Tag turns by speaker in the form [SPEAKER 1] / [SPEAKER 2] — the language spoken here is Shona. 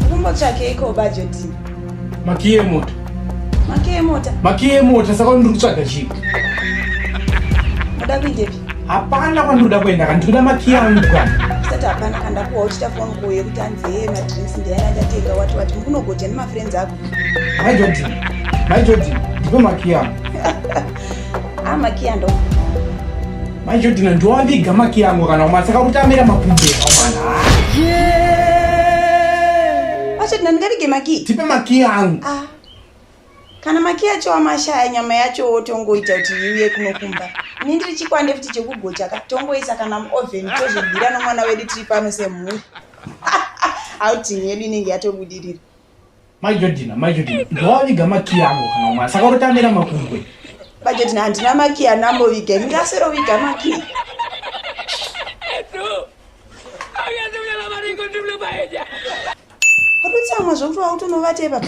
[SPEAKER 1] Kumbotsvakeiko bhajeti? Makiye mota. Makiye mota. Makiye mota saka ndiri kutsvaga chii? Unoda kuendepi? Hapana kwandoda kuenda kana ndikuda makiye angu kana usati hapana kana ndakuwa uchita phone call yekuti hanzi hee madrinks ndiyana ndatenga wati wati mukunogoja nemafriends ako mai jodin mai jodin ndipe makiya Ah, makiya ndo. Manje dina ndo waviga makiya yangu kana umatsaka kuti amira makumbe. Yeah. Wacho dina ndingavige makiya. Tipe makiya yangu. Ah. Kana makiya acho amashaya nyama yacho wotongoita kuti iuye kunokumba. Ini ndiri chikwande futi chekugocha ka tongoisa kana muoven tozvibira nomwana wedu tiri pano semhuri. Outing yedu inenge yatobudirira. Mai Jodina, Mai Jodina, ndowaviga makiyi angu kana umwana, saka unotamira makungwe. Mai Jodina, handina makiyi anamboviga, ini ndasiroviga makiyi. Wapedzamwa zvokuti wautonovatei papa.